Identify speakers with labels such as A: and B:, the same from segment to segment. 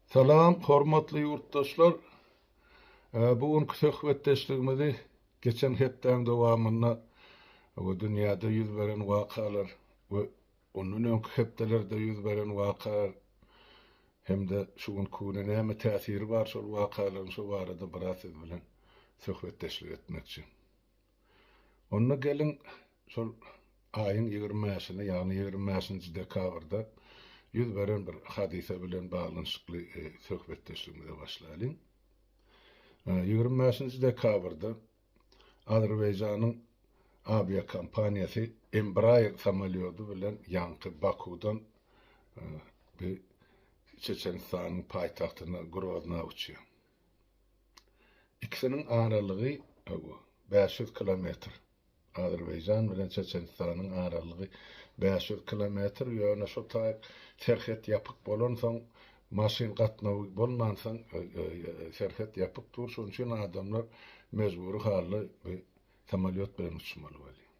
A: Salam, hormatly ýurtdaşlar! Bu günki söhbetdeşligimizi geçen hepdäň dowamynda we dünýäde ýüz beren wakalar we ondan öňki hepdelerde ýüz beren wakalar hem-de şu günki güne näme täsiri bar şol wakalaryň şu barada biraz siz bilen söhbetdeşlik etmekçi. Onda geliň, şol aýyň ýigrimi bäşinde, ýagny ýigrimi bäşinji dekabrda ýüz beren bir hadysa bilen baglanyşykly söhbetdeşligimize başlaýlyň. Ýigrimi bäşinji dekabrda Azerbaýjanyň awiakompaniýasy Embraer samolýody bilen ýaňky Bakudan Çeçenistanyň paýtagtyna Grozna uçýar. Ikisiniň aralygy bäş ýüz kilometr. Azerbaýjan bilen Çeçenistanyň aralygy bäş ýüz kilometr, ýöne şo taýyk serhet ýapyk bolansoň, maşyn gatnawy bolmansoň, serhet ýapyk dur, şonuň üçin adamlar mejbury halda samolýot bilen uçmaly bolýar.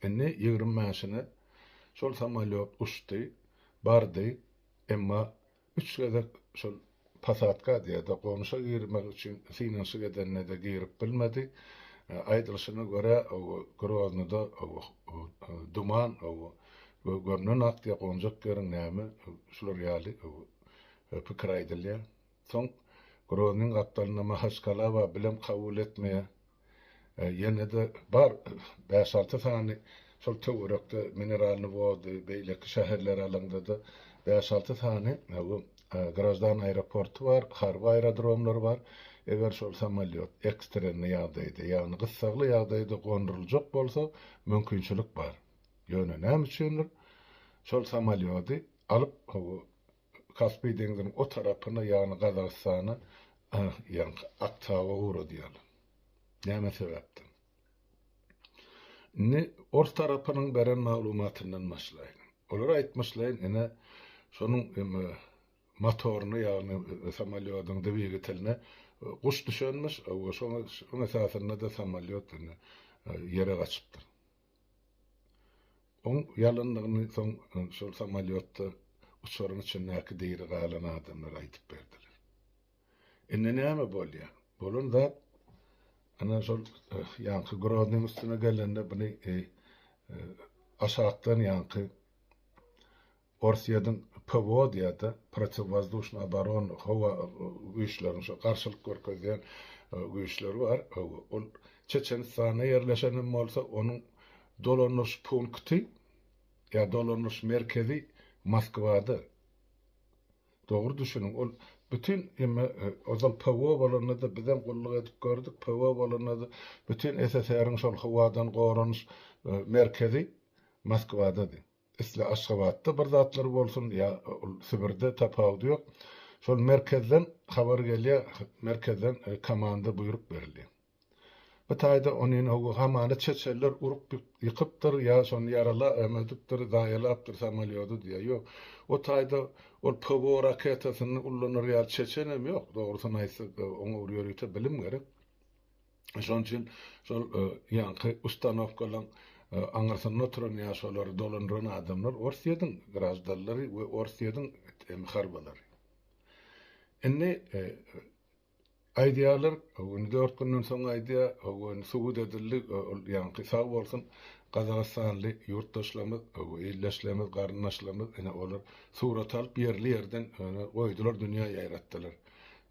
A: Indi ýigrimi bäşine şol samolýot uçdy, bardy, emma Üç gezek şol posadka diýerdi, gonuşa girmek üçin synanyşyk edende-de girip bilmedi. Aýdylyşyna görä, Groznyda duman we gömlen ak diýip gonjak ýeriň näme, şular ýaly pikir aýdylýar. Soň Groznyň gapdalynda Mahaçkala bar, bilem kabul etmeýär. Ýene-de bar bäş-alty sany şol töwerekde Mineralnyý Wody, beýleki şäherleri alaňda-da bäş-alty sany bu graždan aeroporty bar, harby aerodromlar bar. Eger şol samolýot ekstrenniý ýagdaýda, ýagny gyssagly ýagdaýda gonduryljak bolsa, mümkinçilik bar. Ýöne näme üçindir, şol samolýody alyp, Kaspi deňziniň o tarapyna, ýagny Gazagystana, ýaňky Aktaba ugradýarlar. Näme sebäpden? Indi ors tarapynyň beren maglumatyndan başlaýyn. Olar aýtmyşlaýyn, ine, şonuň motoryna, ýagny samolýodyň dwigateline guş düşenmiş, şonuň esasynda-da samolýot indi ýere gaçypdyr. Oň ýalandygyny soň şol samolýotda uçaryň içindäki diri galan adamlar aýdyp berdiler. Indi näme bolýar? Bolan zat ana şol ýaňky Groznyň üstüne gelende buny aşakdan ýaňky Orsýetiň PWO-da, protiwwozduşnyý oborona, howa güýçleriniň, şo garşylyk görkezýän güýçleri bar. Ol Çeçenistanda ýerleşen hem bolsa, onuň dolandyryş punkty ýa dolandyryş merkezi Moskwada. Dogry düşüniň, ol bütin emme ozal PWO bolanda-da biz hem gulluk edip gördük, PWO bolanda-da bütin SSR-iň şol howadan goranyş merkezi Moskwada-dy. Isle Aşgabatda bir zatlar bolsun ýa ol Sibirde tapawudy ýok. Şol merkezden habar gelýär, merkezden komanda buýruk berilýär. Bu taýda onyny howa hamana çeçeller urup ýykypdyr ýa şony ýarala emedipdir, zaýalapdyr samolýody diýýär. Ýok, o taýda ol PWO raketasyny ullanar ýaly çeçenem ýok. Dogrusyny aýtsak, oňa bir ýörite bilim gerek. Şonuň üçin şol ýaňky ustanowkalaryň aňyrsynda oturan ýa şolary dolandyran adamlar Orsýetiň graždanlary we Orsýetiň harbylary. Indi aýdýarlar, indi dört günden soň aýdýar, hawa indi subut edildi, ol ýaňky sag bolsun gazagystanly ýurtdaşlarymyz, hawa ildeşlerimiz, garyndaşlarymyz ine olar surat alyp ýerli-ýerden goýdular dünýä ýaýratdylar.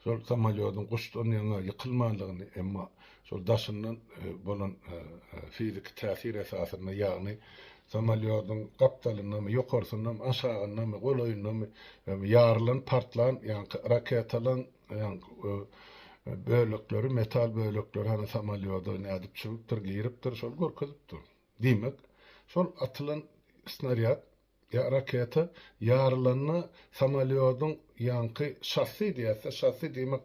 A: Şol samolýodyň guşdan ýaňa ýykylmandygyny, emma şol daşyndan bolan fiziki täsir esasynda, ýagny samolýodyň gapdalyndamy, ýokarsyndanmy, aşagyndamy, golaýyndamy ýarylan, partlan ýaňky raketalaň bölekleri, metal bölekleri hany samolýoda nädip çüwüpdir, giripdir, şol görkezipdir. Diýmek, şol atylan snarýad Raketa ýarylanda samolýodyň ýaňky şassi diýäsde, şassi diýmek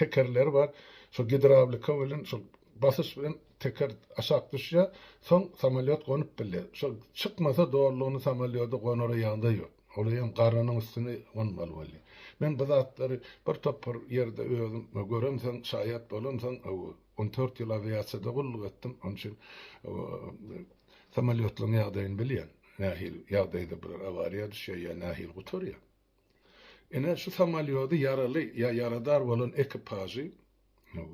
A: tekerleri bar, şol gidrawlika bilen şol basyş bilen teker aşak düşýär, soň samolýot gonup bilýär. Şol çykmasa dolulygyna samolýoda gonara ýagdaý ýok. Olar hem garanyň üstüne gonmaly bolýar. Men bu zatlary bir topar ýerde özüm göremsoň, şaýat bolamsoň, On dört ýyl awiasiýada gulluk etdim, onuň üçin samolýotlaryň ýagdaýyny bilýän. Nähili ýagdaýda bular awariýa düşýär ýa nähili gutarýar. Ine, şu samolýody ýaraly ýa ýaradar bolan ekipažy,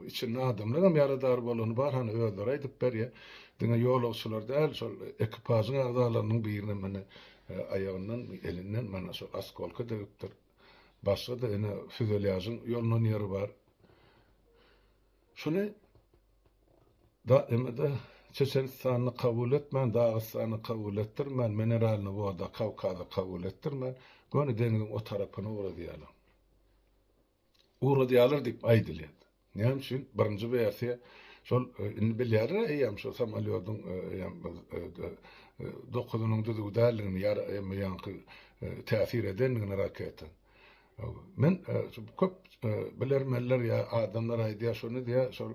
A: içinde adamlar hem ýaradar bolany bar, hany özleri aýdyp berýär. Diňe ýolagçylar däl, şol ekipažyň agzalarynyň biriniň mine aýagyndan, elinden mana şol askolka degipdir. Başga-da ine, füzelýažyň ýolnan ýeri bar. Şuny DMD Çeçenistany kabul etmän, Dagystany kabul etdirmän, Mineralny woda Kawkazy kabul etdirmän, göni deňziň o tarapyna ugradýarlar. Ugradýarlar diýip aýdylýar. Näme üçin? Birinji wersiýa şol indi bilýärler eýýäm şu samolýodyň eýýäm dokuzynyň düzüw däldigini ýa-da ýaňky täsir edendigini raketa. Men köp bilermenler ýa adamlar aýdýar şony diýýär, şol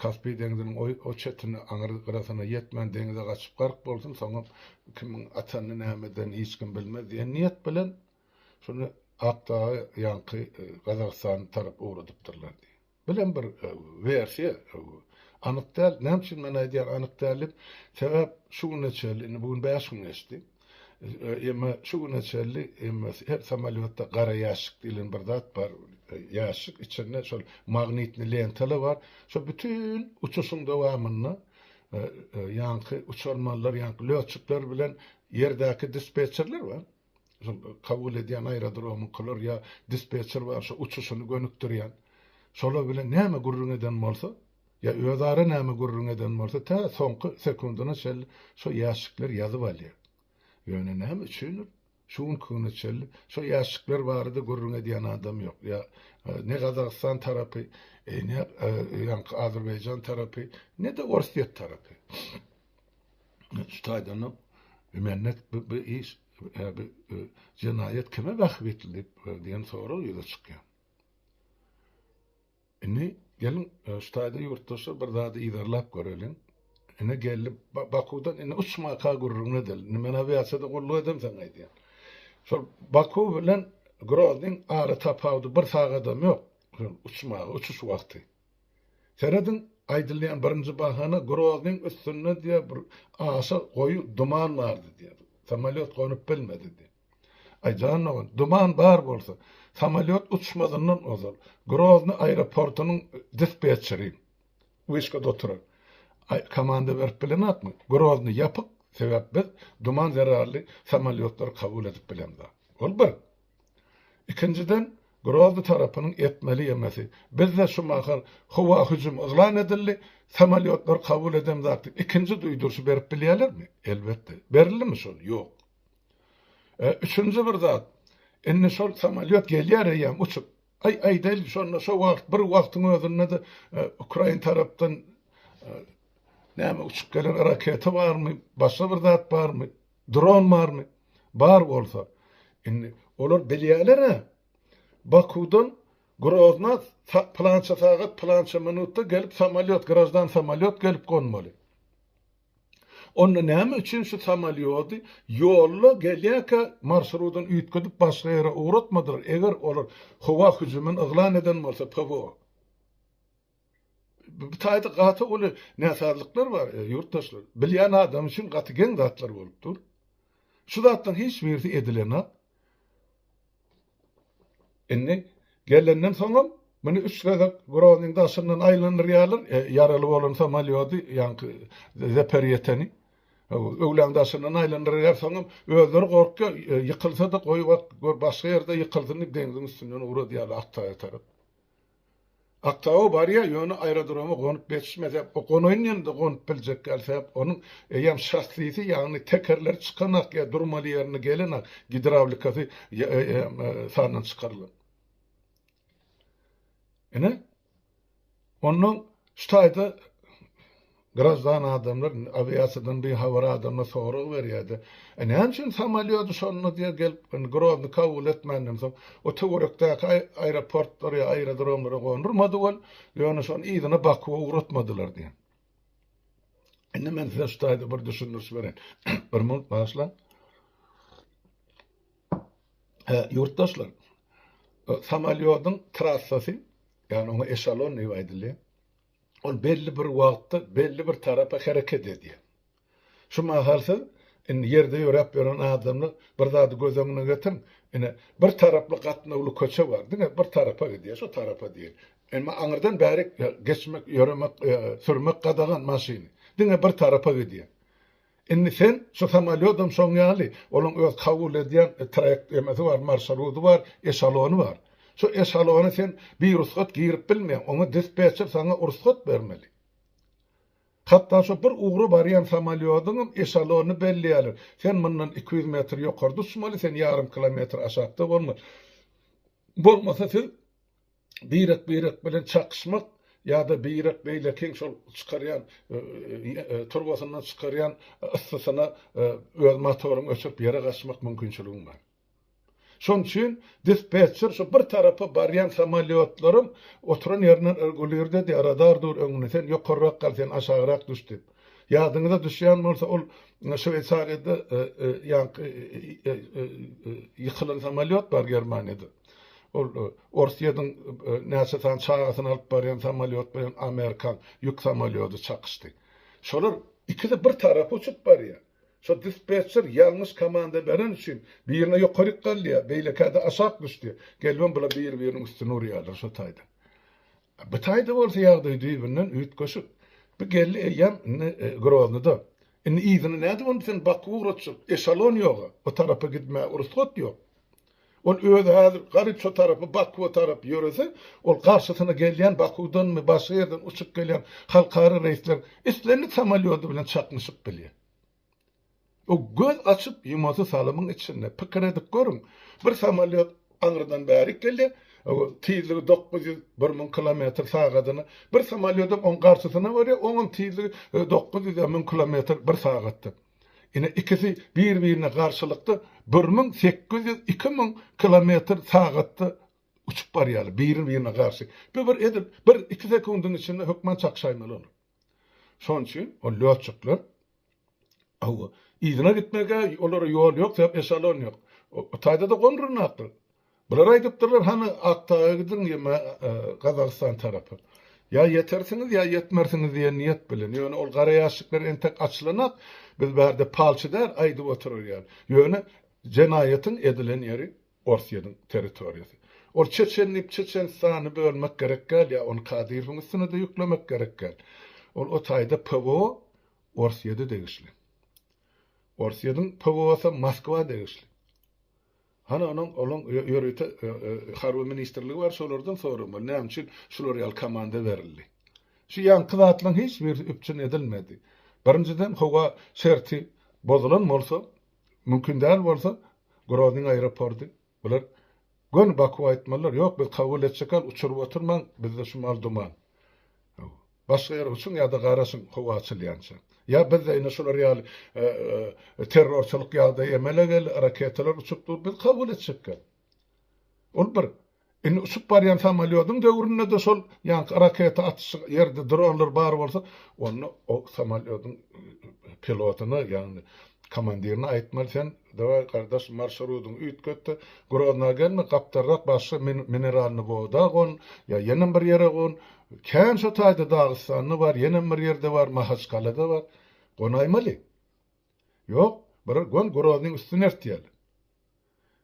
A: Kaspi deňziniň o çetine aňry gyrasyna ýetmän deňize gaçyp gark bolsun, soňam kimiň atanyny nämedenini hiç kim bilmez diýen niýet bilen şony Akdagy ýaňky Gazagystan tarap ugradypdyrlar diýýär. Bu hem bir wersiýa, anyk däl. Näme üçin men aýdýan anyk däl diýip? Sebäp şu güne çenli, indi bu gün bäş gün geçdi. Emma şu güne çenli her samolýotda gara ýaşşik diýlen bir zat bar. Ýaşşik içinde şol magnitni lentalar bar. Şo bütin uçuşyň dowamynda ýaňky uçarmanlar, ýaňky lötçikler bilen ýerdäki dispetçerler bar. kabul edýän aerodromyňkylar ýa dispetçer bar şo uçuşyny gönükdirýän şolar bilen näme gürrüň eden bolsa ýa özara näme gürrüň eden bolsa tä soňky sekundyna çenli şo ýaşşikler ýazyp alýar ýöne näme üçindir şu günki güne çenli şo ýaşşikler barada gürrüň edýän adam ýok ýa ne gazagystan tarapy ne ýaňky azerbaýjan tarapy ne de orsýet tarapy Şu taýdan-da mende bu iş jenaýat kime bähbitli diýip diýen sorag ýüze çykýar. Indi geliň şu taýda ýurtdaşlar bir zady yzarlap göreliň. Ine geldi Bakuwdan indi uçmaka gürrüňini edelim. Indi men awiasiýada gulluk edem sen aýdýan. Şol Bakuw bilen Groznyň ara tapawudy bir sagadam ýok. Uçmaga, uçuş wagty. Serediň, aýdylýan birinji bahana Groznyň üstünde diýýär bir aşa goýy duman bardy diýýär. Samolýot gonup bilmedi diýýär. Aý jan dogan, duman bar bolsa, samolýot uçmazyndan ozal, Grozny aeroportynyň dispetçeri wişkada oturan komanda berip bilenokmy? Grozny ýapyk, sebäp biz duman zerarly samolýotlary kabul edip bilemzok. Ol bir. Ikinjiden, Grozny tarapynyň etmeli ýemesi. Bizde şu mahal howa hüjümi yglan edildi, samolýotlar kabul eden zady ikinji duýduryşy berip bilýärlermi? Elbetde. Berildimi şol? Ýok. E, üçünji bir zat, indi şol samolýot gelýär eýýäm uçup. Aý, aýdaýlyk, şonda şo wagt, bir wagtyň özünde-de ukrain tarapdan näme uçup gelen raketa barmy, başga bir zat barmy? Dron barmy? Bar bolsa. Indi olar bilýäler-ä. Bakuwdan Grozna plança sagat, plança minutda gelip samolýot, graždan samolýot gelip gonmaly. Onda näme üçin şu samolýody ýolda gelýärkä marşrudyny üýtgedip başga ýere ugratmadylar, eger olar howa hüjümini yglan eden bolsa PWO? Bu taýda gaty uly näsazlyklar bar, ýurtdaşlar. Bilýän adam üçin gaty geň zatlar bolup dur. Şu zatlaryň hiç birisi edilenok. Indi gelenden soňam muny üç gezek Groznyň daşyndan aýlandyrýarlar, ýaraly bolan samolýody, ýaňky Zeperýeteni. Öwlaň daşyndan aýlandyrýar, soňam özleri gorkýar, ýykylsa-da goýbak, gör başga ýerde ýykylsyn diýip deňziň üstünden ugradýarlar Aktaýa tarap. Aktaba barýa ýöne aerodroma gonup geçmese o gonaýynda gonup biljek däl sebäp onuň eýýäm şassisi ýagny tekerleri çykanak ýa durmaly ýerine gelenak gidrawlikasy sandan çykarylan. Ine ondan şu taýda Graždan adamlar indi awiasiýadan bihabar adamlar sorag berýärdi. E näme üçin samolýody şonda diýe gelip indi Grozny kabul etmänden soň o töwerekdäki aeroportlara ýa aerodromlara gondurmady ol, ýöne şony yzyna Bakuwa ugratmadylar diýen. Indi men size şu taýda bir düşündiriş bereýin. Bir minut bagyşlaň. Hä, ýurtdaşlar. Samolýodyň trassasy, ýagny oňa eşalon diýip aýdylýar. Ol belli bir wagtda belli bir tarapa hereket edýär. Şu mahal siz indi ýerde ýöräp ýören adamlar bir zady göz öňüne getiriň, ine, bir taraply gatnawly köçe bar, diňe bir tarapa gidýär, şu tarapa diýeli. Emma aňyrdan bärik geçmek, ýöremek, sürmek gadagan maşyny. Diňe bir tarapa gidýär. Indi sen şu samolýodam şoň ýaly, onuň öz kabul edýän traýektemesi bar, marşrudy bar, eşalony bar. Şu eşalona sen birugsat girip bilmeýäň, oňa dispetçer saňa rugsat bermeli. Hatda şu bir ugra barýan samolýodyňam eşalonyny belleýärler. Sen mundan iki ýüz metr ýokarda uçmaly, sen ýarym kilometr aşakda bolmaly. Bolmasa siz birek-birek bilen çakyşmak ýa-da birek beýlekiň şol çykarýan turbasyndan çykarýan yssysyna öz motoryňy öçürip ýere gaçmak mümkinçiligiň bar. Şonuň üçin dispetçer şu bir tarapa barýan samolýotlaryň oturan ýerinden regulirde diýýär, radar dur öňünde, sen ýokarrak gal, sen aşagrak düş diýip. Ýadyňyza düşýän bolsa, ol Şweýsariýada ýaňky ýykylan samolýot bar Germaniýada. Ol Orsýetiň näçe sany çagasyny alyp barýan samolýot bilen amerikan ýük samolýody çakyşdy. Şolar ikisi bir tarapa uçup barýar. Şo dispetçer ýalňyş komanda beren üçin birine ýokaryk galýar, beýlekä-de aşak düşdi. Gelibem bular bir-biriniň üstüne urýarlar şo taýdan. Bu taýda bolsa ýagdaý düýbünden üýtgeşik. Bu geldi eýýäm indi Groznyda. Indi yzyny nädip onda sen Baku ugratjak? Eşalon ýog-a. O tarapa gitmäge rugsat ýok. Ol özi häzir garyp şo tarapa, Bakuwa tarap ýörese, ol garşysyna gelýän Bakuwdanmy, başga ýerden uçup gelýän halkara reýsler islendik samolýody bilen çaknyşyp bilýär. Bu göz açyp ýumasy salymyň içinde. Pikir edip görüň, bir samolýot aňyrdan bärik gelýär, tizligi dokuz ýüz, bir müň kilometr sagadyna, bir samolýodam oň garşysyna barýar, oňam tizligi dokuz ýüz ýa müň kilometr bir sagatda. Ine, ikisi bir-birine garşylykda bir müň sekiz ýüz, iki müň kilometr sagatda uçup barýarlar, biri-birine garşy. Bu bir edil bir-iki sekundyň içinde hökman çakşaýmaly olar. Şonuň üçin ol lýotçyklar Hawa, yzyna gitmegä olara ýol ýok, sebäp eşalon ýok. O taýda-da gomrunakdyr. Bular aýdypdyrlar, hany Akdaga gidiň ýa-da e, Gazagystan tarapa. Ýa ýetersiňiz, ýa ýetmersiňiz diýen niýet bilen. Ýöne ol gara ýaşyklar entek açylanak, biz bärde palçy däl, aýdyp oturarýar. Ýöne jenaýatyň edilen ýeri Orsýetiň territoriýasy. Ol çeçen diýip Çeçenistany bölmek gerek däl ýa ony Kadyrowyň üstüne-de ýüklemek gerek däl. Ol o taýda PWO Orsýete degişli. Orsýetiň PWO-sy Moskwa degişli. Hany onuň olaň ýörite harby ministrligi bar şolardan soramaly näme üçin şular ýaly komanda berildi. Şu ýaňky zatlaryň hiç birisi üpjün edilmedi. Birinjiden howa şerti bozulan bolsa Mümkin däl bolsa, Groznyň aeroporty, bular göni Baku aýtmalylar, ýok, biz kabul etjekal, uçuryp oturmaň, bizde şu mal duman. Hawa. Başga ýere uçuň ýa-da garaşyň, howa açylýança. Ýa biz-de indi şular ýaly terrorçylyk ýagdaýy emele geldi, raketalar uçup dur, biz kabul etjekal. Ol bir. Indi uçup barýan samolýodyň döwründe-de şol ýaňky raketa atyşy ýerde dronlar bar bolsa, onda o samolýodyň pilotyna, ýagny komandirine aýtmaly, sen, daway, gardaş, marşrudyňy üýtget-de, Grozna gelme, gapdalrak başga mineralnyý woda gon, ýa ýenem bir ýere gon. Kän şo taýda Dagystanda bar, ýenem bir ýerde bar, Mahaçkalada bar. Gonaýmaly. Ýok, bir gon Groznyň üstüni ertýäli.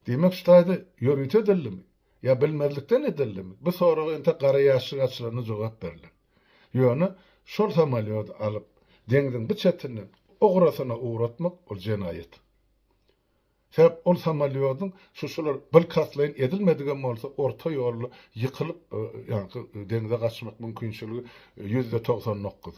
A: Diýmek, şu taýda ýörite edildimi? Ýa bilmezlikden edildimi? Bu soraga entek gara ýaşşyk açylanda jogap berler. Ýöne şol samolýody alyp, deňziň bu çetinden o gyrasyna ugratmak, ol jenaýat. Sebäp ol samolýodyň şu şular bilkastlaýyn edilmedigem bolsa, orta ýolda ýykylyp, ýaňky deňze gaçmak mümkinçiligi ýüzde togsan dokuz.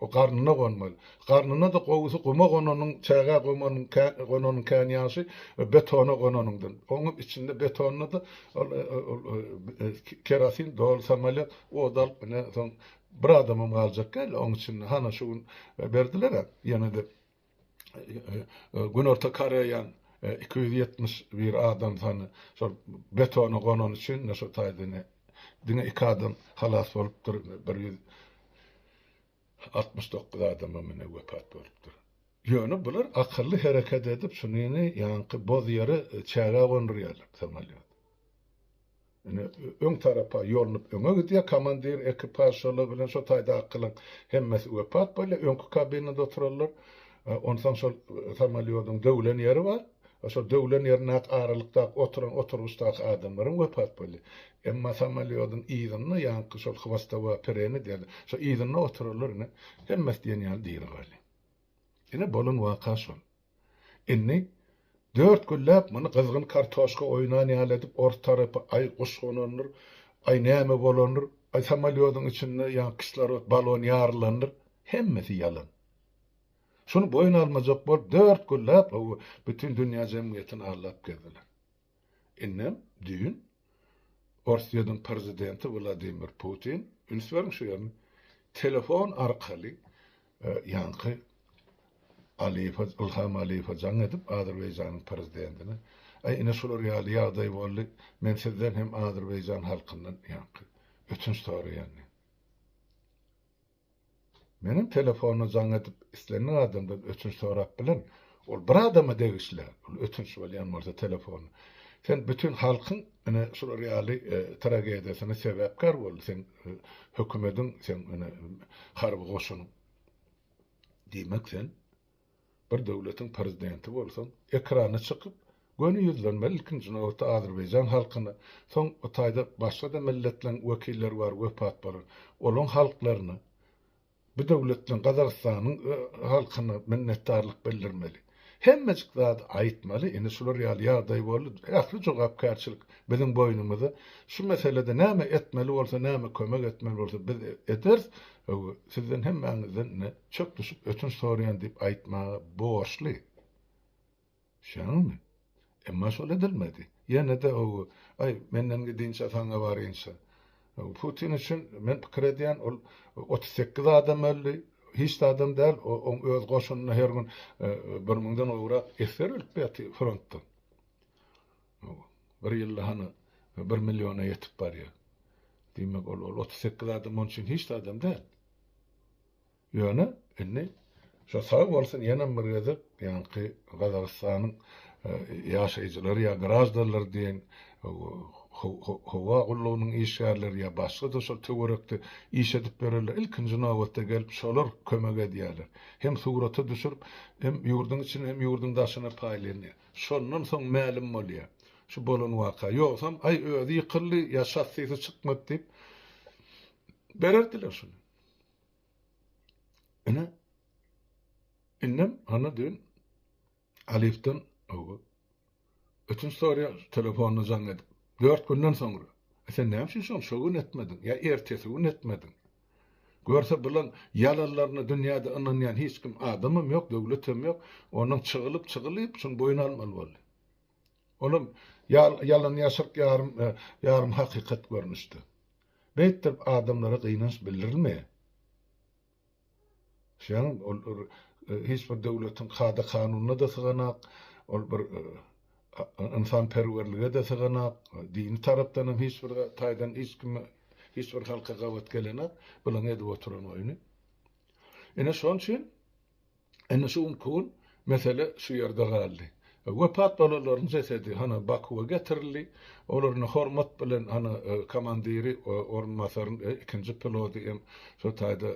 A: O garnyna gonmaly. Garnyna-da gowusy guma gonanyň, çägä gomanyň kän, gonanyň kän ýagşy, betona gonanyňdan. Oňa içinde betonyna-da ol, ol, kerosin doly samolýot od alyp, ine, soň bir adamam galjak däl oň içinde. Hana şu gün berdiler-ä, ýene-de. Günorta Koreýa iki ýüz ýetmiş bir adam sany şol betona gonany üçin indi şu taýda indi diňe iki adam halas bolupdyr, bir ýüz altmyş dokuz adamam indi wepat bolupdyr. Ýöne bular akylly hereket edip şuny indi ýaňky boz ýere çäge gondurýarlar samolýot. Ine, öň tarapa ýolunyp öňe gidýär. Komandir ekipažçylygy bilen şo taýdakylaň hemmesi wepat bolýar. Öňki kabinada oturanlar, onsoň şol samolýodyň döwlen ýeri bar. Şo döwlen ýerindäki aralykdaky oturan oturgyçdaky adamlar hem wepat bolýar. Emma samolýodyň yzynda, ýaňky şol hwostowa pereni diýerler, şo yzynda oturanlar ine, hemmesi diýen ýaly diri galýar. Ine, bolan waka şol. Indi dört günläp muny gyzgyn kartoşka oýnan ýaly edip ors tarapy aý guş gonandyr, aý näme bolandyr, aý samolýodyň içinde ýa kislorod balon ýarylandyr, hemmesi ýalan. Şuny boýun almajak bolup dört günläp bütin dünýä jemgyýetini aldap gezdiler. Indem düýn Orsýetiň prezidenti Wladimir Putin, üns beriň şu ýerine, telefon arkaly ýaňky Aliýewe, Ilham Aliýewe jaň edip, Azerbaýjanyň prezidentine, Aý, ine şular ýaly ýagdaý boldy, men sizden hem Azerbaýjan halkyndan ýaňky ötünç soraýan diýen. Meniň telefony jaň edip islendik adamdan ötünç sorap bilen. Ol bir adama degişli ol ötünç bolýan bolsa telefony. Sen bütin halkyň ine şular ýaly tragediýasyna sebäpkär boldy seň hökümediň seň ine harby goşunyň. Diýmek sen. Bir döwletiň prezidenti bolsaň, ekrana çykyp, göni ýüzlenmeli, ilkinji nobatda azerbaýjan halkyna, soň o taýda başga-da milletleriň wekilleri bar wepat bolan, olaň halklaryna, bu döwletleň Gazagystanyň halkyna minnetdarlyk bildirmeli. Hemmejik zady aýtmaly, indi şular ýaly ýagdaý boldy, ähli jogapkärçilik biziň boýnumyzda, şu meselede näme etmeli bolsa, näme kömek etmeli bolsa biz ederis, sizden hemmäňizden indi çöp düşüp ötünç soraýan diýip aýtmaga borçly. Şeňňi? Emma şol edilmedi. Ýene-de ogu, aý, menden gidinçä saňa barynça. Putin üçin men pikir edýän, ol otuz sekiz adam öldi, hiç zadam däl, oň öz goşunyna her gün bir müňden gowrak esger ölüp ýatyr frontdan. Bir ýylda hany bir milliona ýetip barýar. Diýmek, ol otuz sekiz adam oň üçin hiç zadam däl. Ýöne indi şo sag bolsun ýenem bir gezek ýaňky Gazagystanyň ýaşaýjylary ýa graždanlar diýen howa gullugynyň işgärleri ýa başga-da şol töwerekde iş edip ýörenler ilkinji nobatda gelip şolar kömek edýärler. Hem surata düşürip hem ýurduň içine hem ýurduň daşyna paýlanýar. Şondan soň mälim bolýar şu bolan waka. Ýogsam aý özi ýykyldy ýa şassisi çykmady diýip bererdiler şuny. Ine, indem Hanna düýn Alifden ötünç soraýar, telefonda jaň edip. Dört günden soňra. E sen näme üçin şony şo gün etmediň? Ýa ertesi gün etmediň? Görse bulan ýalanlaryna dünýäde ynanýan hiç kim adamam ýok, döwletem ýok. Onuň çygylyp, çygylyp şuny boýun almaly boldy. Olam ýalan ýaşyryk ýarym hakykat görnüşde. Beýtdip adamlara gynanç bildirilme. Şeýle ol hiç bir döwletiň kada kanunyna da syganak, ol bir ynsan perwerlige de syganak, dini tarapdan hem hiç bir taýdan hiç kime hiç bir halka gabat gelenak, bulan edip oturan oýny. Ine şoň üçin Indi şu günki gün mesele şu ýerde galdy. Wepat bolanlaryň jesedi hany Bakuwa getirildi. Olar indi hormat bilen hany komandiri, orunbasaryň ikinji pilody hem şu taýda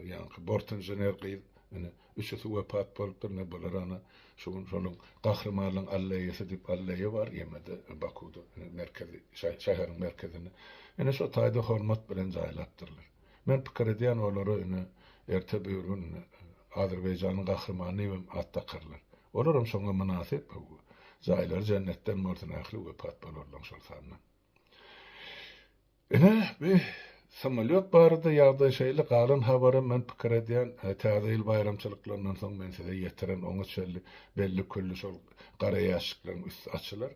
A: ýaňky bort inžener gyz indi üçüsi wepat bolupdyr. Indi bular hany şu gün şonuň Gahrymanlygyň alleýasy diýip alleýa bar ýemede Bakuwda merkezi şäheriň merkezinde. Indi şu taýda hormat bilen jaýlapdyrlar. Men pikir edýän olara ine erte bir gün Azerbaýjanyň gahrymany diýip hem at dakarlar. Olar hem şoňa mynasyp jaýlary jennetden bolsun ähli wepat bolarlaň şol sanda. Ine bi samolýot barada ýagdaý şeýle galan habaram men pikir edýän täze ýyl baýramçylyklaryndan soň men size ýetiren oňa çenli belli külli şol gara ýaşşyklaryň üsti açylar.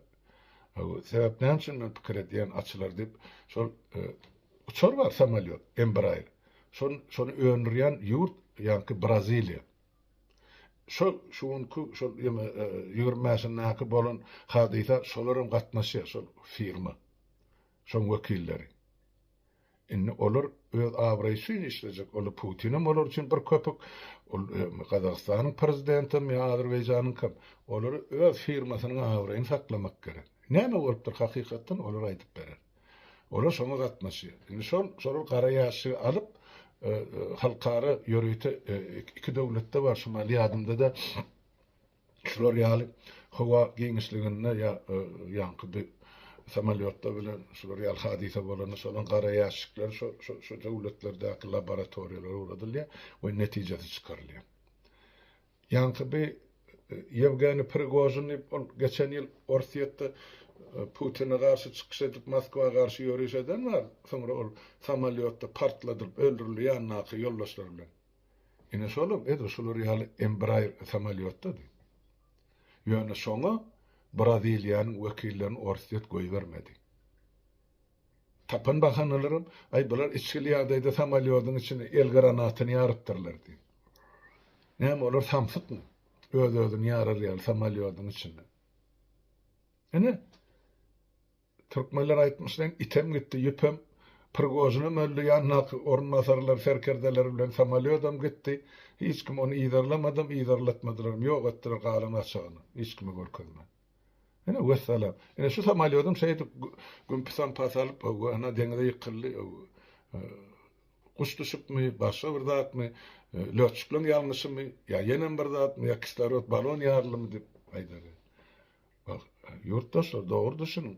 A: Sebäp näme üçin men pikir edýän açylar diýip şol Uçar bar samolýot Embraer. Şon şony öndürýän ýurt ýaňky Braziliýa. Şo şu günki şol ýene ýigrimi bäşindäki bolan hadysa şolaram gatnaşýar şol firma. Şoň wekilleri. Indi olar öz abraýy üçin işlejek. Ol Putinem olar üçin bir köpük. Ol Gazagystanyň prezidentem ýa Azerbaýjanyňkam. Olary öz firmasynyň abraýyny saklamak gerek. Näme bolupdyr hakykatdan olar aýdyp berer. Olar şoňa gatnaşýar. Indi şol şolar gara ýaşygy alyp, halkara ýörite iki döwletde bar, şumal ýadymda-da şular ýaly howa giňişliginde ýa ýaňky bir samolýotda bilen şular ýaly hadysa bolanda şolaň gara ýaşyklar şo şo döwletlerdäki laboratoriýalara ugradylýar we netijesi çykarylýar. Ýaňky bi Ýewgeniý Prigožin diýip, ol geçen ýyl Orsýetde Putine garşy çykyş edip, Moskwa garşy ýöriş eden bar, soňra ol samolýotda partladylyp öldürildi ýanyndaky ýoldaşlary bilen. Ine şolam edil şular ýaly Embraer samolýotdady. Ýöne şoňa Braziliýanyň wekillerini Orsýet goýbermedi. Tapan bahanalaram, Aý, bular içgili ýagdaýda samolýodyň içine el granatyny ýarypdyrlar diýip. Näme, olar samsykmy? Öz-özüni ýarar ýaly samolýodyň içinde. Ine, türkmenler aýtmyş deň, item gitdi, ýüpem, Prigožinem öldi, ýandaky orunbasarlar, serkerdeler bilen samolýodam gitdi. Hiç kim ony yzarlamadam, yzarlatmadylaram, ýok etdiler galan gaçagyny, hiç kime görkezmän. Ene wessalam. Ene şu samolýodum şeýdip güm pisam pasalyp hawa ana deňize ýykyldy. Guş düşüpmi, başga bir zatmy, lötçükleň ýalňyşymy, ýa ýenem bir zatmy, ýa kislorod balon ýarylymy diýip aýdar. Ýurtdaşlar dogry düşüniň.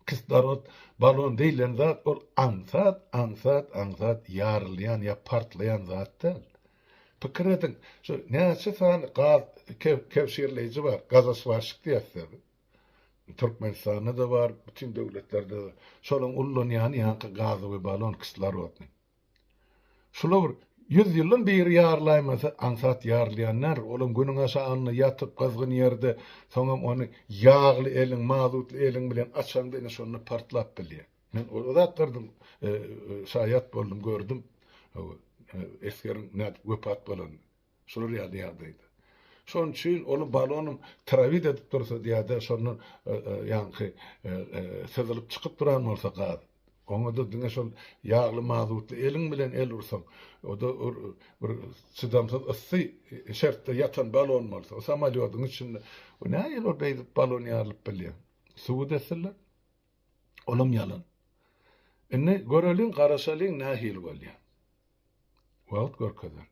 A: Kislorod balon diýlen zat ol aňsat, aňsat, aňsat ýarylýan ýa partlaýan zat däl. Pikir ediň, şu näçe sany gaz kebşirleýji bar, gazoswaşik diýýäs biz. Türkmenistanda-da bar, bütin döwletlerde-de. Şolaryň ullanýany ýaňky gazowy balon, kislorodny. Şular bir ýüz ýyldan biri ýarlaýmasa, aňsat ýarylýanlar, olam günüň aşagynda ýatyp, gyzgyn ýerde, soňam ony ýagly eliň, mazutly eliň bilen açaňda ine şonda partlap bilýär. Men o zatlardan şaýat boldum, gördüm. Esgeriň nädip wepat bolanyny. Şular ýaly ýagdaýda. Şonuň üçin ony balonym trawit edip dursa diýýärdi, şondan ýaňky syzylyp çykyp duran bolsa gaz, oňa-da diňe şol ýagly mazutly eliň bilen el ursaň, o-da bir çydamsyz yssy şertde ýatan balon bolsa, o samolýodyň içinde, o nähili beýdip balon ýarylyp bilýär? Subut etsinler! Olam ýalan. Indi göreliň, garaşalyň nähili bolýar. Wagt görkezer.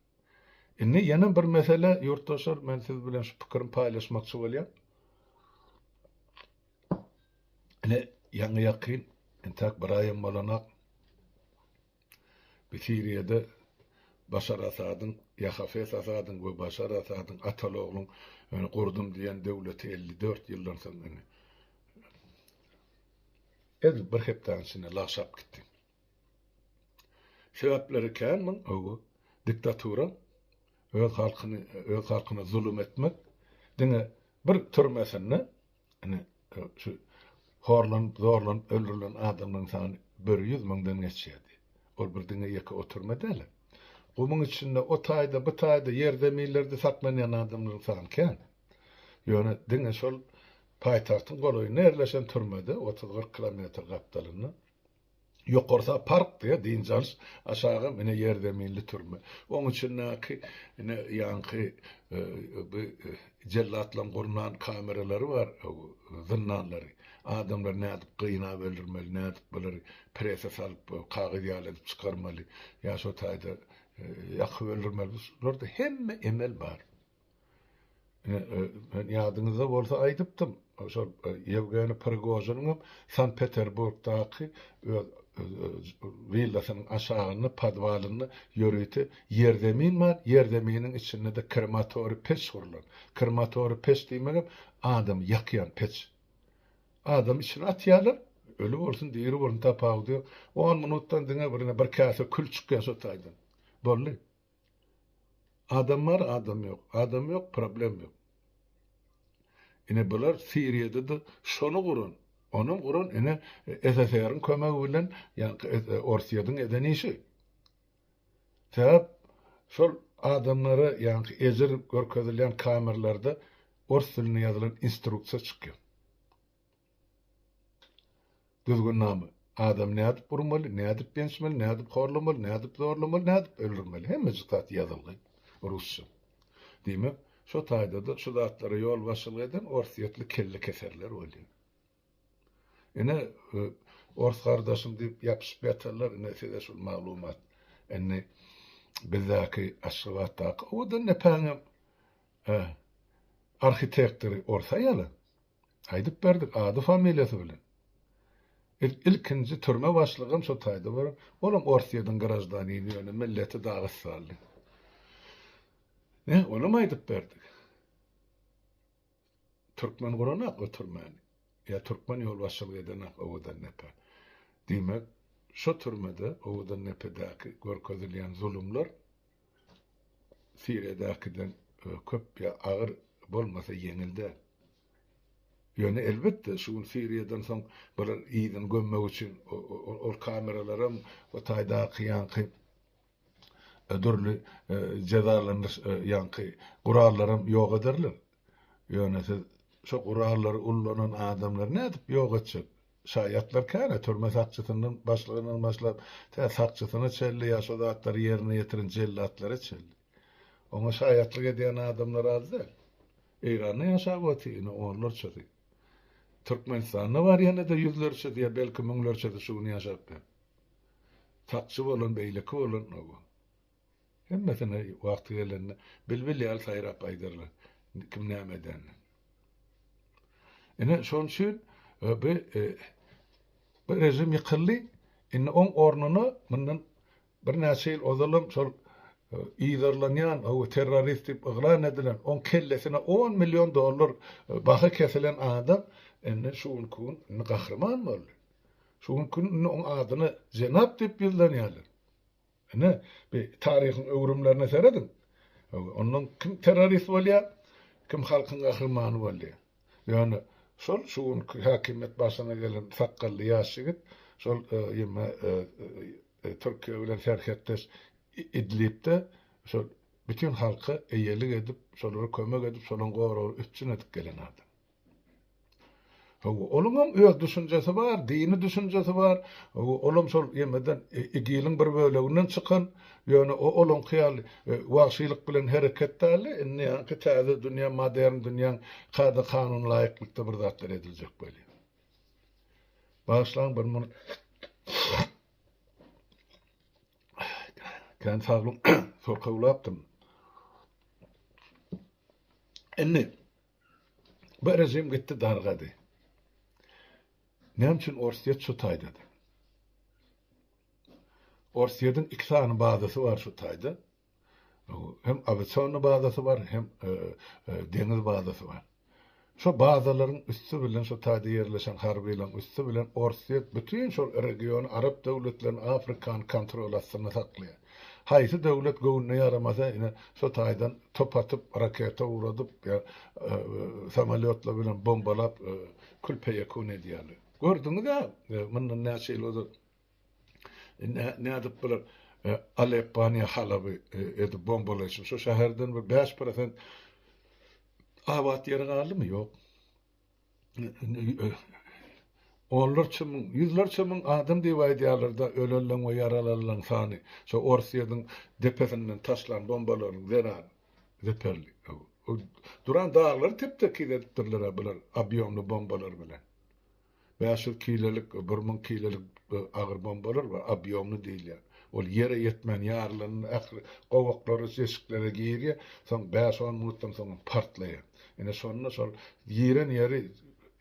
A: Indi ýene bir mesele, ýurtdaşlar, men siz bilen şu pikirimi paýlaşmakçy bolýan. Ine, ýaňy ýakyn, entäk bir aýam bolanak, Siriýada Başar Asadyň, ýa Hafez Asadyň we Başar Asadyň ataly-ogluň gurdum diýen döwleti elli dört ýyldan soň indi edil bir hepdäniň içinde lagşap gitdi. Sebäpleri kän muň, hawa, diktatura, öz halkyny, öz halkyna zulum etmek, diňe bir türmesinde Ine, şu horlanyp, zorlanyp öldürilen adamlaryň sany bir ýüz müňden geçýärdi. Ol bir diňe ýeke oturma däl. Gumuň içinde, o taýda, bu taýda, ýerzeminlerde saklanýan adamlaryň sany kän. Ýöne diňe şol paýtagtyň golaýynda ýerleşen türmede, otuz-kyrk kilometr gapdalynda, Ýokarsa park diýýär, dynç alyş, aşaga ine ýerzeminli türme. Oň içindäki ine ýaňky bi jellatlaň gurnan kameralary bar, zyndanlary. Adamlary nädip gynap öldürmeli, nädip bulary prese salyp, kagyz ýaly edip çykarmaly, ýa şo taýda ýakyp öldürmeli, şularda hemme emel bar. Ýadyňyzda bolsa aýdypdym, şol Ýewgeniý Prigožiniňem Sankt-Peterburgdaky öz willasynyň aşagynda, podwalynda ýörite ýerzemin bar, ýerzeminiň içinde-de krematoriý peç gurlan. Krematoriý peç diýmegem adamy ýakýan peç. Adamy içine atýarlar, öli bolsun, diri bolsun tapawudy ýok. On minutdan diňe bir ine bir käse kül çykýar şo taýdan. Boldy. Adam bar adam ýok adam ýok problem ýok. Ine bular siriýadada şony guran onam guran ine SSR-iň kömegi bilen ýaňky orsyýadyň eden işi. Sebäp şol adamlara ýaňky ejir görkezilýän kamerlarda ors dilinde ýazylan instruksiýa çykýar. Düzgünnama. Adamy nädip urmaly, nädip bençmeli, nädip horlamaly, nädip zorlamaly, nädip öldürmeli, hemmejik zat ýazylgy rusça. Diýmek, şo taýda-da şu zatlara ýolbaşçylyk eden orsýetli kellekeserler bolýar. Ine, ors gardaşym diýip ýapyşyp ýatanlar, ine size şul maglumat. Indi bizdäki Aşgabatdaky owadan depäňem arhitektory ors aýaly. Aýdyp berdik, ady-familiýasy bilen. Biz ilkinji türme başlygam şo taýda bolan, olam Orsýetiň graždanini, ýöne milleti dagystanly. Nä, onam aýdyp berdik. Türkmen guranok o türmäni. Ýa türkmen ýolbaşçylyk edenak owadan depe. Diýmek, şo türmede, owadan depedäki görkezilýän zulumlar, Siriýadakiden köp ýa agyr bolmasa ýeňil däl. Ýöne elbetde şu gün Siriýadan soň bular yzyny gömmek üçin ol kameralaram o taýdaky ýaňky dürli jezalandyryş ýaňky gurallaram ýok ederler. Ýöne siz şo gurallary ullanan adamlary nädip ýok etjek? Şaýatlar käre türme sakçysyndan başlygyndan başlap, tä sakçysyna çenli ýa şo zatlary ýerine ýetiren jellatlara çenli. Oňa şaýatlyk edýän adamlar az däl. Eýranda ýaşap otyr ine onlarçasy. Türkmenistanda bar ýene-de ýüzlerçesi ýa belki müňlerçesi şu gün ýaşap ýör. Sakçy bolan, beýleki bolan, oba. Hemmesine wagty gelende bilbil ýaly saýrap aýdarlar, kim näme edenini. Ine, şonuň üçin bu bu režim ýykyldy. Indi oň ornuna mundan birnäçe ýyl ozalam şol yzarlanýan, hawa terrorist diýip yglan edilen, oň kellesine on million dollar baha kesilen adam indi şu günki gün indi gahryman boldy. Şu günki gün indi oň adyna jenap diýip ýüzlenýärler. Ine, bir taryhyň öwrümlerine serediň. Ondan kim terrorist bolýar, kim halkyň gahrymany bolýar. Ýöne şol şu günki häkimiýet başyna gelen sakgally ýaş ýigit şol ýyma Türkiýe bilen serhetdeş Idlibde şol bütin halka eýelik edip, şolara kömek edip, şolaň goragly üpjün edip gelen adam. Hawa, onuňam öz düşünjesi bar, dini düşünjesi bar. Olam şol ýemeden, igiliň bir böleginden çykan. Ýöne o olaňky ýaly wagşylyk bilen hereket däldi. Indi ýaňky täze dünýä, modern dünýäň kada-kanunyna laýyklykda bir zatlar ediljek welin. Bagyşlaň bir minut. Kän saglyň, sokawlapdym. Indi, Bu režim gitdi dargady. Näme üçin Orsýet şu taýdady? Orsýetiň iki sany bazasy bar şu taýda. Hem awiasion bazasy bar, hem e, e, deňiz bazasy bar. Şu bazalaryň üsti bilen şu taýda ýerleşen harbylaryň üsti bilen Orsýet bütün şol regiony arap döwletlerini Afrikany kontrol astynda saklaýar. Haýsy döwlet göwnüne ýaramasa ine şo taýdan top atyp raketa uradyp ýa samolýotlar bilen bombalap kül peýekun edýärler. Gördüňizä mundan näçe ýyl ozal nädip bular Aleppany ýa Halaby edip bombalaýşyp şo şäherden bir bäş prosent abat ýeri galdymy ýok. Onlarça müň, ýüzlerçe müň adam diýip aýdýarlar-da, ölenleň we ýaralanlaň sany. Şo Orsýetiň depesinden taşlan bombalaryň zerany zeperli. Duran daglary tep-tekiz edipdirler-ä bular obýomly bombalar bilen. Bäş ýüz kilolik, bir müň kilolik agyr bombalar bar, obýomly diýilýär. Ol ýere ýetmän ýarylanda ähli gowaklara, deşiklere girýär, soň bäş-on minutdan soň hem partlaýar. Ine, şonda şol giren ýeri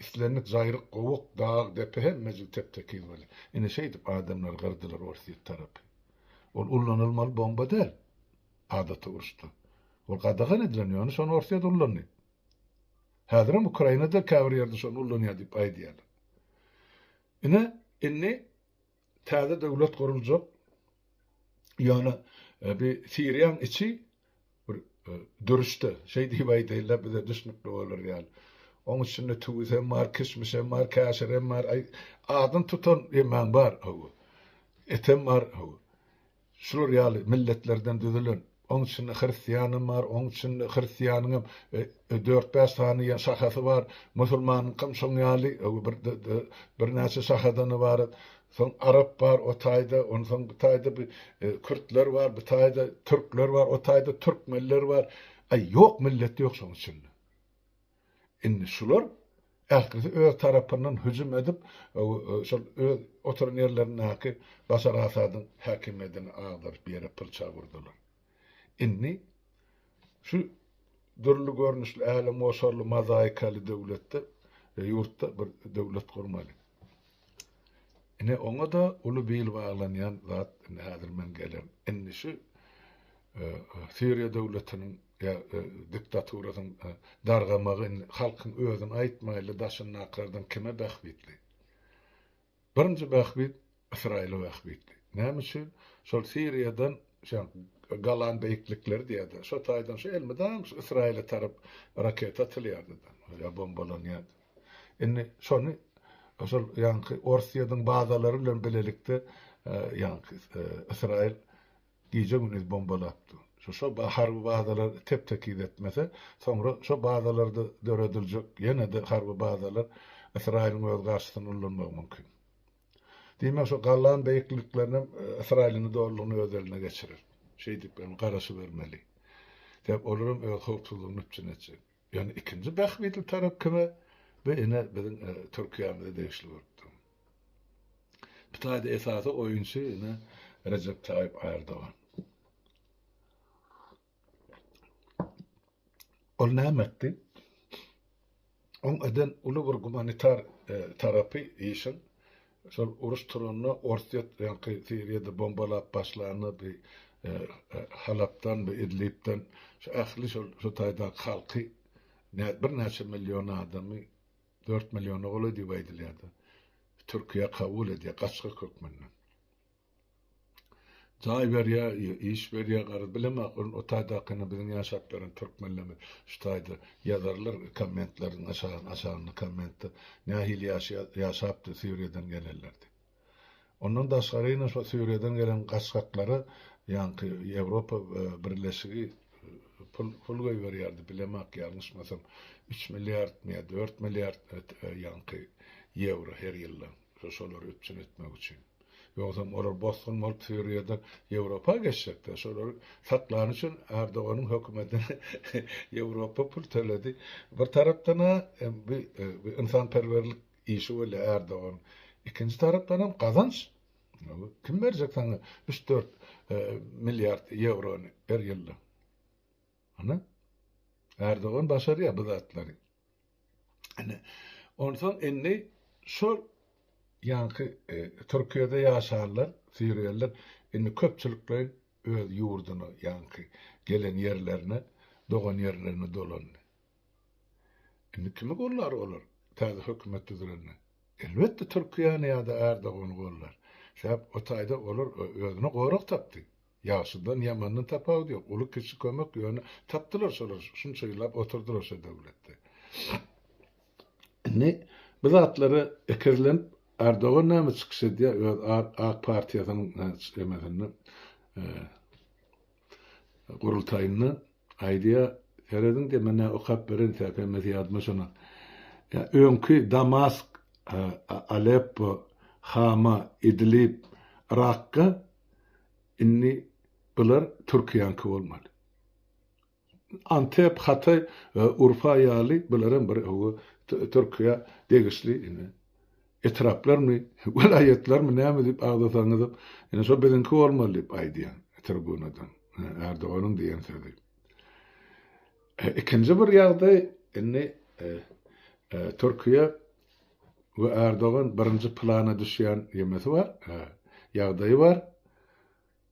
A: islendik jaýryk, gowak, dag, depe hemmejik tep-tekiz bolýar. Ine, şeýdip adamlary gyrdylar orsýet tarapy. Ol ullanylmaly bomba däl adaty uruşda. Ol gadagan edilen, ýöne şony orsýet ullandy. Häzirem Ukrainada käbir ýerde şony ullanýar diýip aýdýarlar. Ine, indi täze döwlet guruljak. Ýöne e, bir Siriýaň içi bir e, dürüşde, şeý diýip aýdaýlar bize düşnükli bolar ýaly. Oň içinde tüwüs hem bar, kişmiş hem bar, käşir hem bar, aýy, adyny tutan ýemäň bar, hawa. Etem bar, hawa. şular ýaly milletlerden düzülen, onuň içinde hristiýanam bar, onuň içinde hristiýanyňam dört-bäş sany ýa şahasy bar, musulmanyňkam şoň ýaly bir birnäçe şahadan ybarat, soň arap bar o taýda, onsoň bu taýda bir kürtler bar, bu taýda türkler bar, o taýda türkmenler bar, aý, ýok milleti ýok şoň içinde. Indi şular ählisi öz tarapyndan hüjüm edip, şol öz oturan ýerlerindäki Başar Asadyň häkimiýetini agdaryp ýere pyrçag urdular. Indi şu dürli görnüşli älemgoşarly mozaikaly döwletde, ýurtda bir döwlet gurmaly. Ine oňa-da uly bil baglanýan zat, indi häzir men gelen, indi şu Siriýa döwletiniň ýa diktaturasyň dargamagy indi halkyň özüni aýtmaýly daşyndakylardan kime bähbitli? Birinji bähbit Ysraýyla bähbitli. Näme üçin? Şol Siriýadan şa Galan beýiklikleri diýýärdi. Şo taýdan şu elmydam şu Ysraýyla tarap raketa atylýardy da, ýa bombalanýardy. Indi şony şol ýaňky Orsýetiň bazalary bilen bilelikde ýaňky Ysraýyl Gije gündiz bombalap dur. Şo harby bazalar tep tekiz etmese, soňra şo bazalarda dörediljek ýenede harby bazalar Ysraýylyň öz garşysyna ullanmagy mümkin. Diýmek şo gallan beýikliklerinem Ysraýylyny dolulygyna öz eline geçirer. Şeýdip hem garaşybermeli. Sebäp olaram öz howpsuzlygyny üpjün etjek. Ýagny ikinji bähbitli tarap kime? Bu ine biziň Türkiýämize degişli bolup dur. Bu taýda esasy oýunçy ine Rejep Taýyp Ärdogan. Ol näme etdi? Oň eden uly bir gumanitar tarapy işiň Şol uruş turanda Orsýet öňki Siriýada bombalap başlanda bi Halapdan bi Idlibden şu ähli şol şu taýdaky halky birnäçe million adamy dört milliona golaý diýip aýdylýardy. Türkiýe kabul edýär gaçgak hökmünde. Jaý berýä, iş berýä garaz bileem ahyryn o taýdakyny biziň ýaşap ýören türkmenlerimiz şu taýda ýazarlar kommentleriň aşagyna aşagyna kommentde nähili ýaşaýar ýaşapdy Siriýadan gelenler diýip. Ondan daşgary ine şo Siriýadan gelen gaçgaklara ýaňky Ýewropa birleşigi pul pul goýberýärdi bileem ak ýalňyşmasam üç milliardmy ýa dört milliard ýaňky ýewro her ýylda şolary üpjün etmek üçin. Ýogsam olar bosgun bolup Siriýadan Ýewropa geçjekler. Şolary saklany üçin Erdoganyň hökümetine Ýewropa pul töledi. Bir tarapdan-a bu ynsanperwerlik işi bolýar Erdoganyň. Ikinji tarapdanam gazanç. Kim berjek saňa üç-dört milliard ýewrony her ýylda? Hany? Erdogan başarýar bu zatlary. Ine, onsoň indi şol ýaňky Türkiýede ýaşanlar, siriýalylar indi köpçülikleýin öz ýurduna, ýaňky gelen ýerlerine, dogan ýerlerine dolandy. Indi kimi gollar olar täze hökümet düzülende? Elbetde, Türkiýäni ýa-da Ärdogany gollar. Sebäp o taýda olar özüne gorag tapdy. Ýagşydan ýamandan tapawudy ýok uly kiçi kömek ýöne tapdylar şolar şunça ýyllap oturdylar şo döwletde. Indi bu zatlara ekezlenip Erdogan näme çykyş edýär öz ak partiýasynyň emesinde gurultaýynda aýdýar serediň diýip men näme okap bereýin TPMS ýadyma şona öňki Damask Aleppo Hama Idlib Rakka Indi bular Türkiýäňki bolmaly. Antep, Hataý, Urfa ýaly bular hem bir oba Türkiýä degişli etraplarmy, welaýatlarmy näme diýip agzasaňyzam, indi şo biziňki bolmaly diýip aýdýan tribunadan Erdoganyň diýen sözi. Ikinji bir ýagdaý indi Türkiýe we Erdogan birinji plana düşýän nemesi bar, ýagdaýy bar,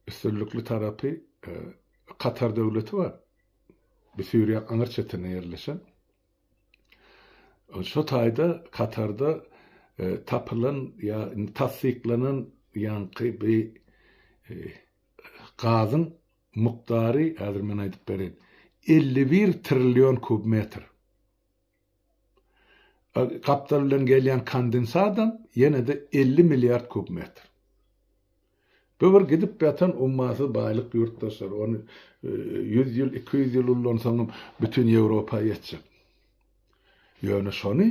A: üstünlikli tarapy Katar döwleti bar. Bu Suriýa aňyr çetinde ýerleşen. Şu taýda Katarda tapylan ýa tassyklanan ýaňky bi gazyň mukdary häzir men aýdyp berin elli bir trillion kub metr. Gapdal bilen gelýän kondensadam ýene-de elli milliard kub metr. Bu bir gidip ýatan ummasyz baýlyk ýurtdaşlar. Ony ýüz ýyl, iki ýüz ýyl ullansaňam bütin Ýewropa ýetjek. Ýöne şony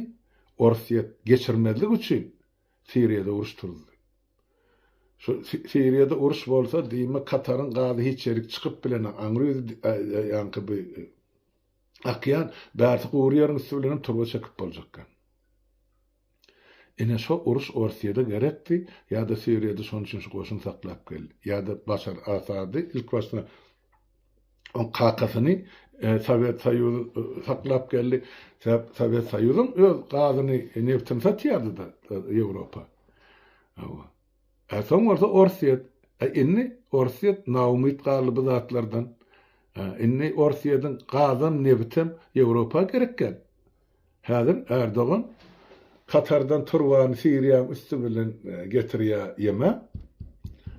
A: Orsýet geçirmezlik üçin Siriýada uruş turuzdy. Şu Siriýada uruş bolsa diýme Kataryň gazy hiç ýerik çykyp bilenok. Aňry ýaňky bu Akýan, bärsi gury ýeriň üsti bilenem turba çekip boljakka. Ine şo uruş Orsýede gerekdi, ýa-da Siriýada şonuň üçin şu goşun saklap geldi. Ýa-da Başar Asady ilkibaşda oň kakasyny Sowet Soýuzy saklap geldi. Sebäp Sowet Soýuzam öz gazyny, nebtini satýardy-da Ýewropa. Hawa. A soň bolsa Orsýet. A indi Orsýet naumyt galdy bu zatlardan. A indi Orsýediň gazam, nebitem Ýewropa gerek däl. Häzir Erdogan Katardan turbany Siriýaň üsti bilen getirýär ýeme.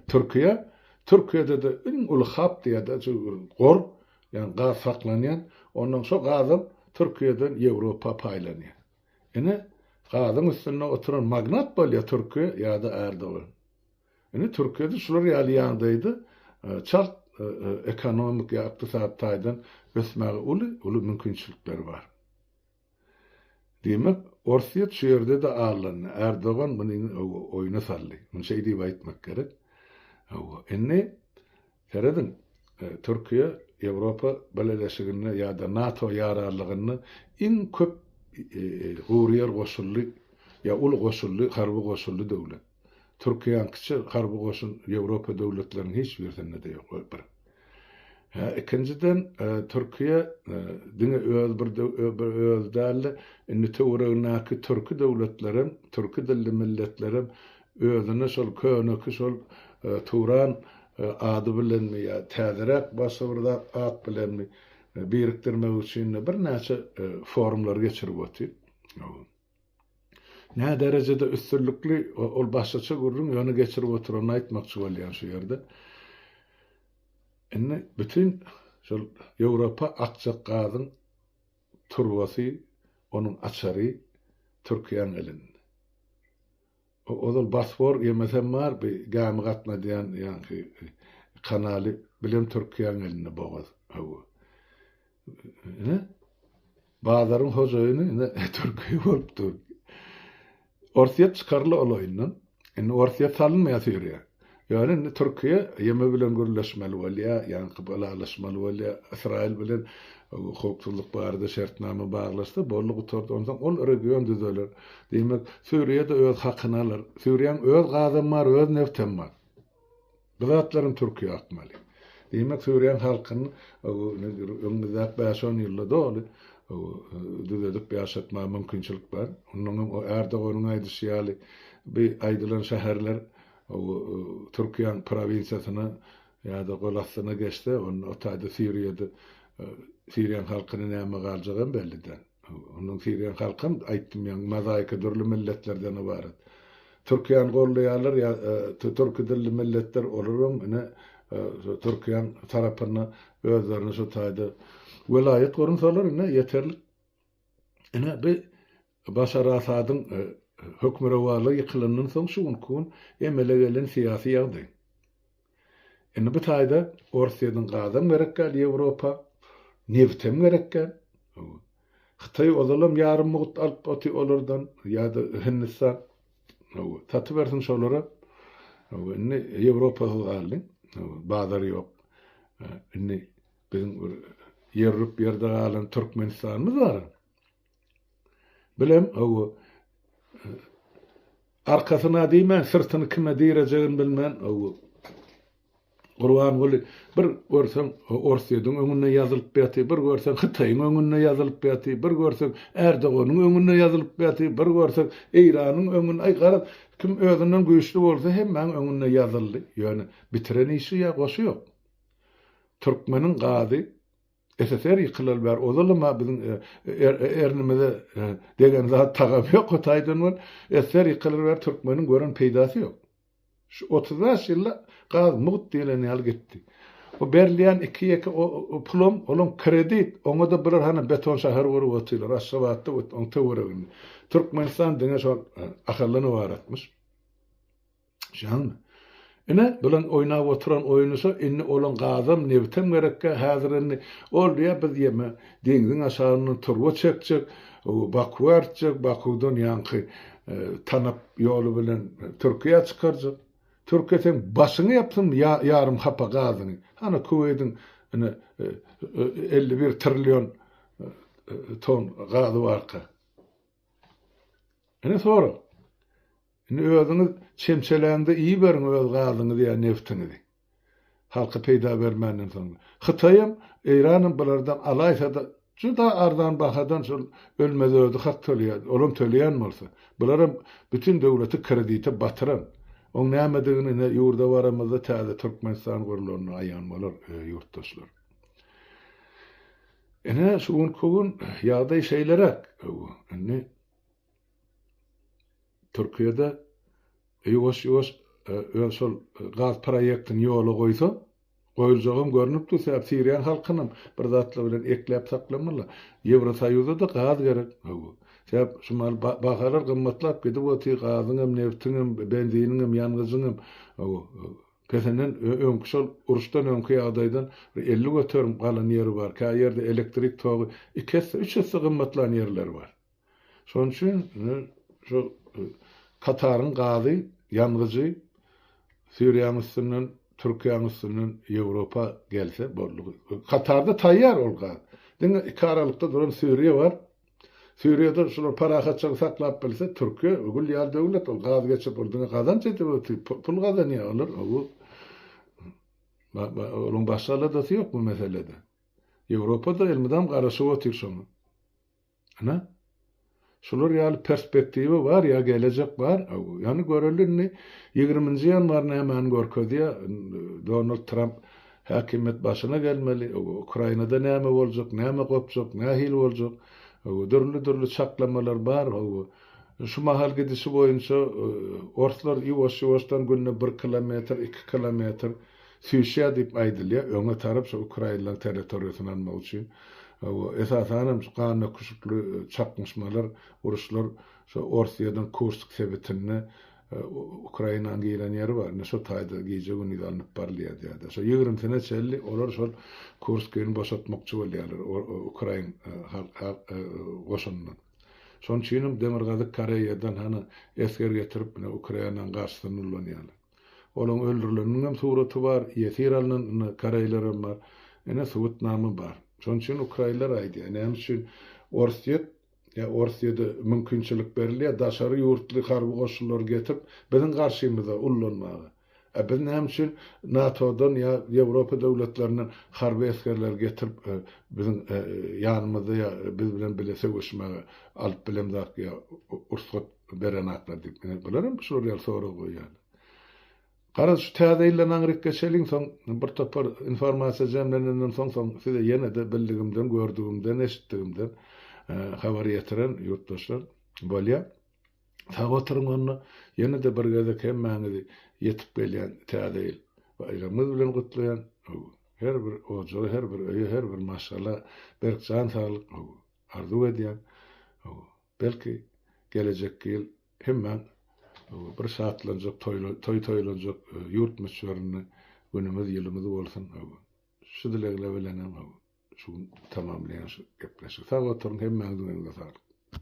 A: Türkiýe, Türkiýede-de iň uly hap diýýärdi şu gor, ýagny gaz saklanýan. Ondan şo gazam Türkiýeden Ýewropa paýlanýar. Ine gazyň üstünde oturan magnat bolýa Türkiýe ýada Erdogan. Ine Türkiýede şular ýaly ýagdaýda çalt ekonomik ýa ykdysady taýdan ösmäge uly uly mümkinçilikleri bar. Diýmek Orsýet şu ýerde-de allandy. Erdogan muny oýuna saldy. Muny şeý diýip aýtmak gerek. Hawa indi Serediň, Türkiýe Ýewropa Bileleşiginde ýa-da NATO ýararlygynda iň köp gury ýer goşully ýa uly goşully, harby goşully döwlet. Türkiýäňkiçe harby goşun Ýewropa döwletleriniň hiç birisinde-de ýok, o bir. Hä, ikinjiden, Türkiýe diňe öz bir bir özi däl-de, indi töweregindäki türki döwletlerem, türki dilli milletlerem Özüni şol köneki şol Turan ady bilenmi ýa täzeräk başga bir zat at bilenmi birikdirmek üçin-de birnäçe forumlary geçirip otyr. Nä derejede üstünlikli ol başgaça gürrüň ýöne geçirip oturanyny aýtmakçy bolýan şu ýerde. Indi bütin şol Ýewropa akjak gazyň turbasy, onuň açary Türkiýäň elinde. Ozal Bosfor gemisem bar, bi gämi gatnadýan ýaňky kanaly bilem Türkiýäň elinde bogaz. Hawa. Ine, bazaryň hojaýyny ine Türkiýe bolup dur. Orsýet çykarly ol oýundan. Indi Orsýet salynmaýas ýörýär. Ýöne indi Türkiýe YM bilen gürleşmeli bolýar, ýaňky ylalaşmaly bolýar. Ysraýyl bilen howpsuzlyk barada şertnama baglaşsa, boldy gutardy. Onsoň ol region düzeler. Diýmek, Suriýa-da öz hakyny alar. Suriýanyň öz gazam bar, öz nebtem bar. Bu zatlaram Türkiýä akmaly. Diýmek, Suriýanyň halkyny öňümizdäki bäş-on ýylda doly düzedip ýaşatmaga mümkinçilik bar. Onnoňam Erdoganyň aýdyşy ýaly, bu aýdylan şäherler Ol Türkiýäň prowinsiýasyna ýa-da gol astyna geçse, onda o taýda Siriýada Siriýaň halkyna näme galjagam belli däl. Onuň Siriýaň halkam aýtdym ýaňy mozaika dürli milletlerden ybarat. Türkiýäni goldaýarlar ýa türki dilli milletler olaram ine Türkiýäň tarapynda özlerini şu taýda welaýat gurunsalar ine ýeterlik. Ine bi Başar Asadyň hökmürowanlygy ýykylandan soň şu günki gün emele gelen syýasy ýagdaý. Indi bu taýda Orsýetiň gazam gerek däl Ýewropa, nebtem gerek däl. Hytaý ozalam ýarym mugt alyp oty olardan ýa-da Hindistan. Satybersin şolara. Indi Ýewropasyz galdy. Bazar ýok. Indi biziň bir ýerrüp ýerde galan Türkmenistanymyz bar. Bilem, hawa, arkasyna diýmän, syrtyny kime direjegini bilmän, hawa, Gurbanguly bir görseň Orsýetiň öňünde ýazylyp ýatyr, bir görseň Hytaýyň öňünde ýazylyp ýatyr, bir görseň Erdoganyň öňünde ýazylyp ýatyr, bir görseň Eýranyň öňünde, aý, garaz, kim özünden güýçli bolsa, hemmäň öňünde ýazyldy. Ýöne bitiren işi ýa goşy ýok. Türkmeniň gazy. SSR ýykylaly bäri ozalam-a biziň ernimize degen zat tagam ýok o taýdan bol. SSR ýykylaly bäri türkmeniň gören peýdasy ýok. Şu otuz bäş ýylda gaz mugt diýlen ýaly gitdi. O berilýän iki-ýeke pulam olam kredit, oňa-da bular hany beton şäher gurup otyrlar, Aşgabatda we oň töwereginde. Türkmenistan diňe şol Ahaldan ybaratmyş. Şaňmy? Ine, bilen oýnap oturan oýunysy, indi olaň gazam, nebtem gerekkä, häzir indi, ol diýýär, biz ýeme, deňziň aşagyndan turba çekjek, Bakuwa artjak, Bakuwdan ýaňky Tanap ýoly bilen Türkiýä çykarjak. Türkiýe seň başyňy ýapsyn ýarym hapa gazyňy. Hany Kuweýdiň ine elli bir trillion ton gazy barka. Ine sora. Indi özüňiz çemçelände iýiberiň öz gazyňyzy ýa neftiňizi. Halka peýda bermänden soň. Hytaýam, Eýranam bulardan alaýsa-da juda arzan bahadan şol ölmez özi hak töleýär. Olam töleýän bolsa. Bularam bütin döwleti kredite batyran. Oň nämedigini ine ýurda baramyzda täze Türkmenistan gurulanda aýan bolar ýurtdaşlar. Ine şu günki gün ýagdaý şeýleräk. Indi Türkiýede ýuwaş-ýuwaş öz şol gaz proýektini ýola goýsa, goýuljagam görnüp dur, sebäp siriýan halkynam bir zatlar bilen ekläp saklamalylar. Ýewrosoýuza-da gaz gerek. Hawa. Sebäp şu mahaly bahalar gymmatlap gidip otyr, gazyňam, nebtiňem, benziniňem, ýangyjyňam. Hawa. Pesenden öňki şol uruşdan öňki ýagdaýdan bir elli göterim galan ýeri bar. Käýerde elektrik togy iki esse, üç esse gymmatlan ýerleri bar. Şonuň üçin şu Kataryň gazy, ýangyjy Siriýanyň üstünden, Türkiýäniň üstünden Ýewropa gelse boldy. Katarda taýýar ol gaz. Diňe iki aralykda duran Siriýa bar. Siriýada şular parahatçylygy saklap bilse, Türkiýe gül ýaly döwlet, ol gaz geçirip, ol diňe gazanç edip otyr, pul gazanýar olar. Bu Onuň başga aladasy ýok bu meselede. Ýewropa-da elmydam garaşyp otyr şoňa. Ana, şular ýaly perspektiwa bar ýa gelejek bar. Ýöne göreli indi ýigriminji ýanwar nämäni görkezýär. Donald Tramp häkimiýet başyna gelmeli. Ukrainada näme boljak, näme gopjak, nähili boljak. Dürli-dürli çaklamalar bar. Şu mahal gidişi boýunça orslar ýuwaş-ýuwaşdan günde bir kilometr, iki kilometr Sýuşýa diýip aýdylýar, öňe tarap şo ukrainlaryň territoriýasyny almak üçin, hawa, esasanam şu gandöküşikli çaknyşmalar, uruşlar şo Orsýetiň Kursk sebitinde Ukrainanyň giren ýeri bar, indi şo taýda gije-gündiz alnyp barylýar diýýärler. Şo ýigrimisine çenli olar şol Kurskyny boşatmakçy bolýarlar ukrain goşunyndan. Şonuň üçinem Demirgazyk Koreýadan hany esger getirip, ine Ukrainanyň garşysyna nurlanýarlar. Olaň öldürileniniňem suraty bar, ýesir alnan indi koreýlerem bar. Ine subutnama bar. Şonuň üçin ukraýynlar aýdýar, näme üçin Orsýet ýa Orsýede mümkinçilik berilýär daşary ýurtly harby goşunlary getirip biziň garşymyza ullanmaga. A biz näme üçin NATO-dan ýa Ýewropa döwletlerinden harby esgerleri getirip biziň ýanymyzda ýa biz bilen bile söweşmäge alyp bilemzak ýa ursgat Bu beren atlar diýip, ine, bular hem şular ýaly sorag goýýarlar. Garaz, şu Täze ýylda naňryk geçeliň, soň bir topar informasiýa jemlenenden soň, soň size ýene-de bildigimden, gördügimden, eşitdigimden habar ýetiren ýurtdaşlar bolýar. Sag oturyň onda, ýene-de bir gezek hemmäňizi ýetip gelýän Täze ýyl baýramyňyz bilen gutlaýan. Her bir ojaga, her bir öýe, her bir maşgala berk jan saglyk arzuw edýän. Belki, gelejekki ýyl hemmäň bir şatlanjak, toý toýlanjak ýurt möçberinde günümiz, ýylymyz bolsun. Şu dilegne bilenem şu gün tamamlaýan şu gepleşigi. Sag oturyň, hemmäňiziň eliňize saglyk.